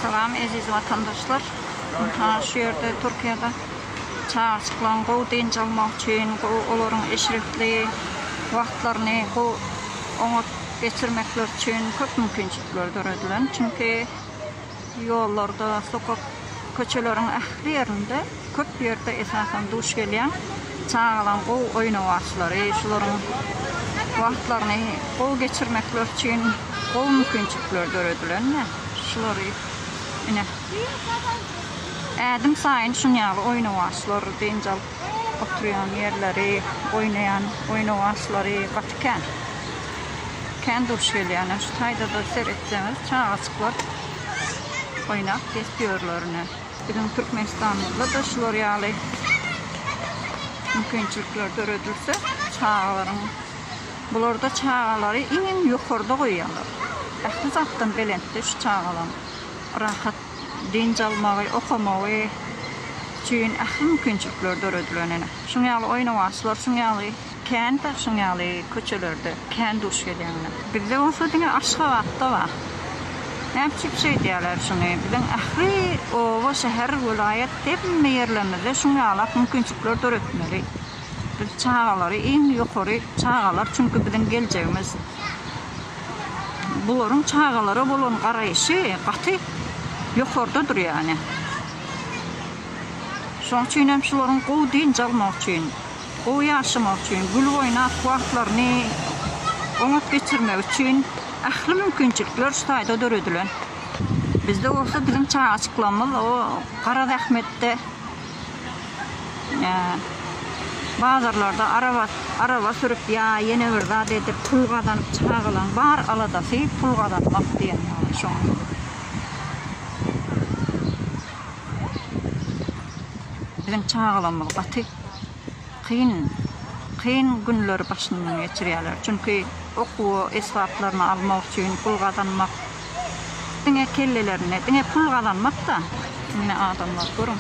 Salam eziz watandaşlar. Ynha şu ýerde Türkiýede çagajyklaryň gowy dynç almagy üçin, gowy olaryň eşretli wagtlaryny gowy oňat geçirmekleri üçin köp mümkinçilikler döredilen. Çünki ýollarda, sokak, köçeleriň ähli ýerinde. Köp ýerde esasan duş gelýän çagalaryň gowy oýnawaçlary, şularyň wagtlaryny gowy geçirmekleri üçin gowy mümkinçilikler döredilen-de, şulary ine, ädim saýyn şun ýaly oýnawaçlar, dynç alyp oturýan ýerleri, oýnaýan oýnawaçlary gaty kän. Kän duş gelýän. Şu taýda-da seretseňiz, çagajyklar oýnap gezip ýörler ine. Biziň Türkmenistanymyzda-da şular ýaly mümkinçilikler döredilse, çagalaryň, bularda çagalary iň ýokarda goýýarlar. Ähli zatdan belentde şu çagalaryň rahat dynç almagy, okamagy üçin ähli mümkinçilikler döredilen ene. Şuň ýaly oýnawaçlar, şuň ýaly. Kän daşyň ýaly köçelerde kän duş gelýäňmi? Bizde bolsa diňe Aşgabatda bar. Näme üçin şeýdýärler şuny? Biziň ähli oba, şäher, welaýat hemme ýerlerimizde şuň ýalak mümkinçilikleri döretmeli. Biz çagalary iň ýokary çagalar çünki biziň geljegimiz. Bularyň çagalara bolan garaýşy gaty ýokarda dur ýani. Şoň üçin hem şularyň gowy dynç almagy üçin. Gowy ýaşamak üçin, gül oýnap wagtlaryny oňat geçirmek üçin ähli mümkinçilikler şu taýda döredilen. Bizde bolsa biziň çagajyklarymyz o gara zähmetde bazarlarda araba sürüp ýa ýene bir zat edip pul gazanyp çagalaň bar aladasy pul gazanmak diýen ýaly şoň. Biziň çagalarymyz gaty kyn, kyn günleri başyndan geçirýärler. Çünki okuwa esbaplaryny almak üçin, pul gazanmak diňe kellelerinde, diňe pul gazanmak-da. Indi adamlar görüň,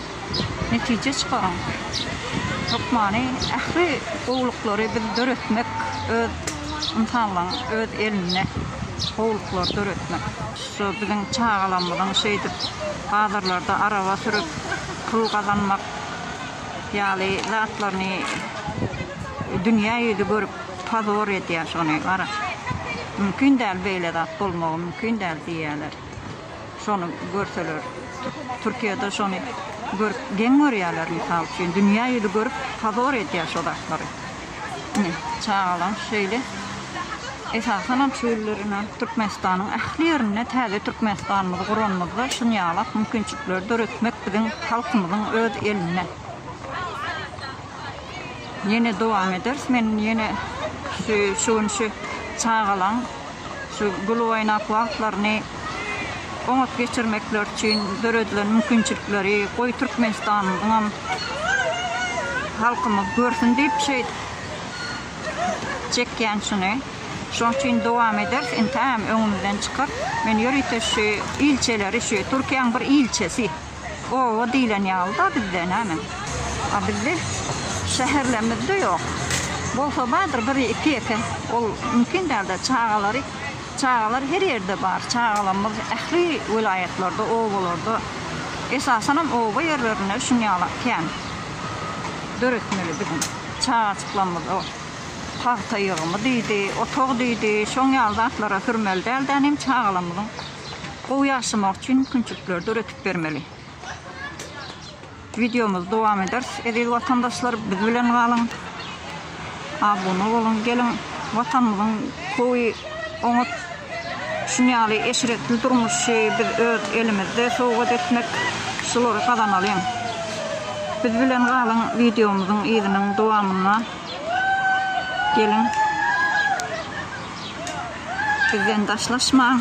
netije çykaryň. Hökmany ähli gowulyklary biz döretmek öz ynsanlaryň öz elinde, gowulyklary döretmek. Şu biziň çagalarymyzyň şeýdip bazarlarda araba sürüp pul gazanmak. ýaly zatlaryny dünýä ýüzi görüp pozor edýär şony gara mümkin däl beýle zat bolmagy mümkin däl diýýäler şony görseler türkiýede şony görüp geň görýäler mysal üçin dünýä ýüzi görüp pozor edýär şo zatlary. Ine, çagalar şeýle. Esasanam şu günler ine Türkmenistanyň ähli ýerinde täze Türkmenistanymyzy guranymyzda şunýalak mümkinçilikleri döretmek biziň halkymyzyň öz elinde. Ýene dowam ederis. Men ýene şu şu gün şu çagalaň şu gülüoýnak wagtlaryny oňat geçirmekleri üçin döredilen mümkinçilikleri goý Türkmenistanyňam halkymyz görsün diýip şeýt çekýän şuny. Şoň üçin dowam ederis, entägem öňümizden çykar. Men ýörite şu ilçileri, şu Türkiýäň bir ilçisi. Oba diýlen ýaly-da bizde, näme? A bizde şäherlerimiz-de ýok. Bolsa bardyr biri iki-ýeke. Ol mümkin däl-de, çagalary, çagalar her ýerde bar. Çagalarymyz ähli welaýatlarda, obalarda, esasanam oba ýerlerinde şuň ýaly kän döretmeli biziň çagajyklarymyza pagta ýygymy diýdi, otag diýdi, şoň ýaly zatlara sürmeli däl-de, inem çagalarymyzyň Gowy ýaşamak üçin mümkinçilikleri döredip bermeli. Wideomyzy dowam ederis. Eziz watandaşlar, biz bilen galyň. Abuna boluň. Geliň, Watanymyzyň gowy, oňat şuny ýaly eşretli durmuşy biz öz elimizde sowgat etmek, şulary gazanalyň. Biz bilen galyň, wideomyzyň yzynyň dowamyna geliň. Bizden daşlaşmaň.